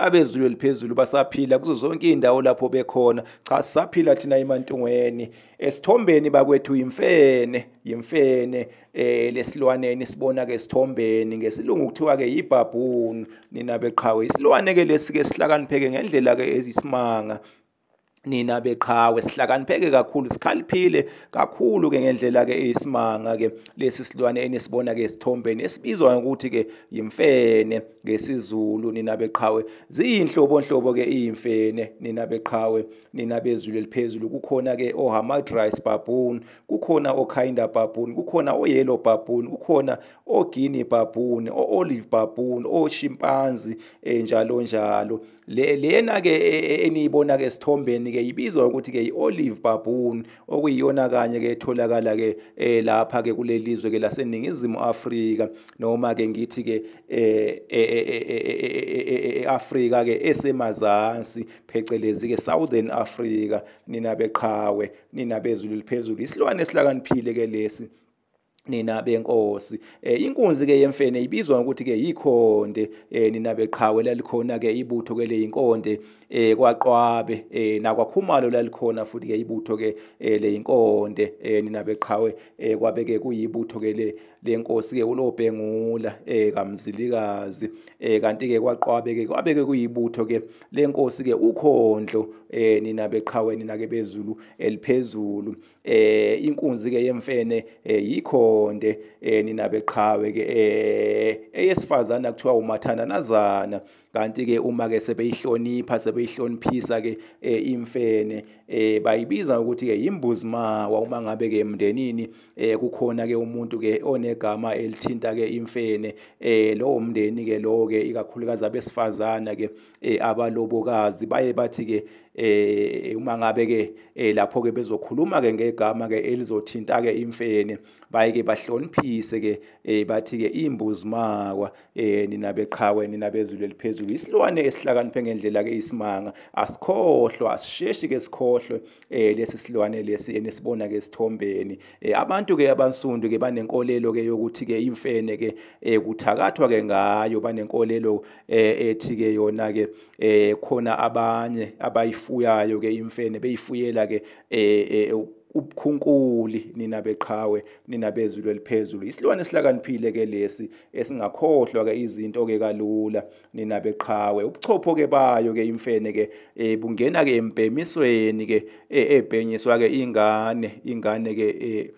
abezulu eliphezulu basaphila kuzo zonke izindawo lapho bekhona cha sisaphila thina emantungweni esithombeni bakwethu imfene yimfene eh lesilwaneni sibona ke sithombeni ngesilungu kuthiwa ke yibhabhunu nina beqhawe isilwane ke lesike sihlakanipheke ngendlela ke ezisimanga nina beqhawe sihlakanipheke kakhulu sikhaliphile kakhulu ke ngendlela ke isimanga ke lesi silwane enisibona ke esithombeni esibizwa ngokuthi ke yimfene ngesizulu nina beqhawe ziyinhlobo nhlobo ke imfene nina beqhawe nina bezulu eliphezulu kukhona ke ohamad rice baboon kukhona okinda baboon kukhona oyellow baboon kukhona oguinea baboon oolive baboon oshimpanzi enjalo eh, njalo, njalo. Le lena ke e, e, eniyibona ke sithombeni ke ibizwa ukuthi ke iOlive baboon okuyiyona kanye ke etholakala ke eh, lapha ke kulelizwe ke laseningizimu Afrika noma ke ngithi ke eh, eh, eAfrika ke esemazansi phecelezi ke Southern Africa nina beqhawe nina bezulu liphezulu isilwane esihlakaniphile ke lesi nina benkosi eh inkunzi ke yemfene ibizwa ukuthi ke yikhonde eh nina beqhawe lalikhona ke ibutho ke leyinkonde eh kwaqwabe eh nakwakhumalo lalikhona futhi ke ibutho ke eh leyinkonde eh nina beqhawe eh kwabe ke kuyibutho ke le lenkosi ke ulobhengula eh kamzilikazi eh kanti ke kwaqwabe ke kwabe ke kuyibutho ke lenkosi ke ukhondlo eh nina beqhawe nina ke bezulu eliphezulu eh inkunzi ke yemfene eh, yikhonde eh, nina beqhawe ke eh, eyesifazana kuthiwa umathanda nazana kanti ke uma ke sebeyihlonipha sebeyihloniphisa ke imfene eh bayibiza ukuthi ke imbuzi mawa uma ngabe ke emndenini eh kukhona ke umuntu ke onegama elithinta ke imfene eh lowo mndeni ke lowo ke ikakhulukazi abesifazana ke eh abalobokazi baye bathi ke eh uma ngabe ke eh, lapho ke bezokhuluma ke ngegama ke elizothinta ke imfene baye ke bahloniphise ke eh bathi ke imbuzi makwa eh nina beqhawe nina bezulu eliphezulu isilwane esihlakaniphe ngendlela ke isimanga asikhohlwa asisheshi ke sikhohlwe eh lesi silwane lesi enisibona ke sithombeni eh, abantu ke abansundu ke banenkolelo ke yokuthi ke imfene ke eh, kuthakathwa ke ngayo banenkolelo eh, ethi ke yona ke eh, khona abanye abayifuyayo ke imfene beyifuyela ke eh, eh, ubukhunkuli nina beqhawe nina bezulu eliphezulu isilwane sihlakaniphile ke lesi esingakhohlwa ke izinto ke kalula nina beqhawe ubuchopho ke bayo ke imfene ke eh bungena ke embhemisweni ke eh, ebhenyiswa ke ingane ingane ke eh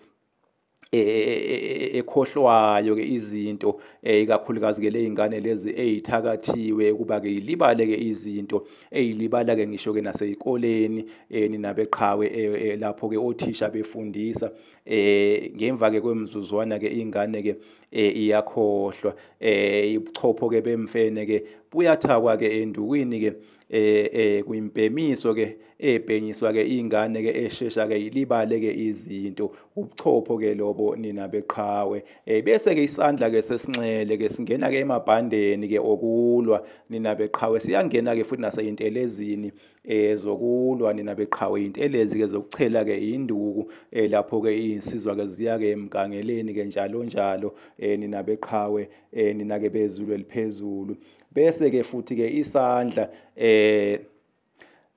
E, e, e, ekhohlwayo ke izinto eh, ikakhulukazi ke lezingane lezi ezithakathiwe kuba ke ilibale ke izinto ezilibala ke ngisho ke nasezikoleni eh, ninabeqhawe eh, lapho ke othisha befundisa eh ngemva ke kwemizuzwana ke ingane ke eh iyakhohlwa eh ibuchopho ke bemfene ke buyathakwa ke endukwini ke eh eh kuyimbhemiso ke ebhenyiswa ke ingane ke eshesha ke ilibale ke izinto ubuchopho ke lobo nina beqhawe eh bese ke isandla ke sesinxele ke singena ke emabhandeni ke okulwa nina beqhawe siyangena ke futhi naseyintelezini eh zokulwa nina beqhawe intelezi ke zokuchela ke induku eh lapho ke insizwa ke ziya ke emgangeleni ke njalo njalo eh nina beqhawe eh nina ke bezulu eliphezulu bese ke futhi ke isandla eh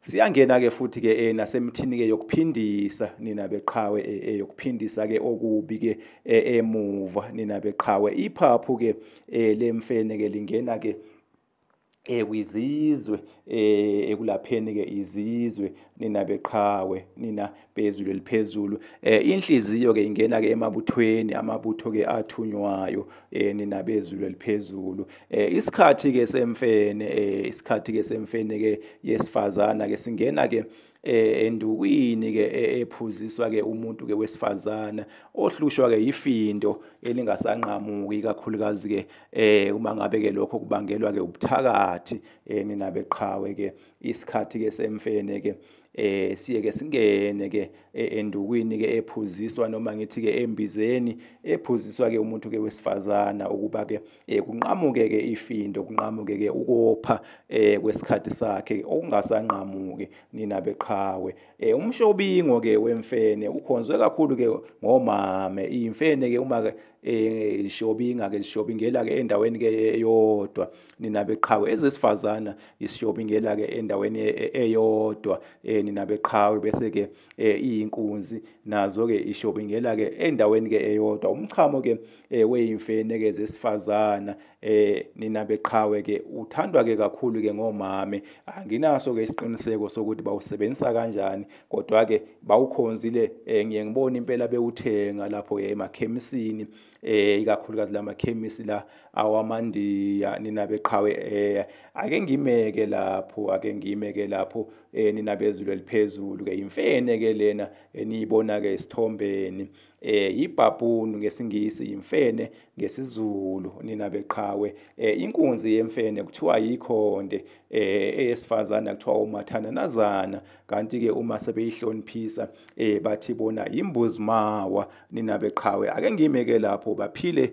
siyangena ke futhi ke eh nasemthini ke yokuphindisa nina beqhawe eh, eh yokuphindisa ke okubi ke eh, emuva nina beqhawe iphaphu ke eh, lemfene ke lingena ke eh kwizizwe eh ekulapheni ke izizwe nina beqhawe nina bezulu eliphezulu eh inhliziyo ke ingena ke emabuthweni amabutho ke athunywayo eh nina bezulu eliphezulu eh isikhathi ke semfene eh isikhathi ke semfene ke yesifazana ke singena ke eh endukwini ke e, ephuziswa ke umuntu ke wesifazana ohlushwa ke yifindo elingasanqamuki kakhulukazi ke eh uma ngabe ke lokho kubangelwa ke ubuthakathi eh, nina beqhawe ke isikhathi ke semfene ke eh siye ke singene ke e, endukwini ke ephuziswa noma ngithi ke embizeni ephuziswa ke umuntu ke wesifazana ukuba ke eh kunqamuke ke ifindo kunqamuke ke ukopha eh kwesikhathi sakhe okungasanqamuki nina beqhawe eh umshobingo ke wemfene ukhonzwe kakhulu ke ngomame imfene ke uma ke eh ishobinga ke ishobingela ke endaweni ke eyodwa nina beqhawe ezesifazana ishobingela ke endaweni e, e, eyodwa eh nina beqhawe bese ke eh, iyinkunzi nazo ke ishobingela ke endaweni ke eyodwa umchamo ke eh weyimfene ke zesifazana eh nina beqhawe ke uthandwa ke kakhulu ke ngomame anginaso ke isiqiniseko sokuthi bawusebenzisa kanjani kodwa ke bawukhonzile eh ngiye ngibona impela bewuthenga lapho ke emakhemisini eh ikakhulukazi lamakhemisi la awamandiya nina beqhawe eh ake ngimeke lapho ake ngimeke lapho eh nina bezulu eliphezulu ke imfene ke lena eniyibona eh, ke isithombeni eh, eh ibhabhunu ngesingisi yimfene ngesizulu nina beqhawe eh inkunzi yemfene kuthiwa yikhonde eh eyesifazana kuthiwa umathananazana kanti ke uma sebeyihloniphisa eh bathi bona yimbuzimawa nina beqhawe ake ngimeke lapho baphile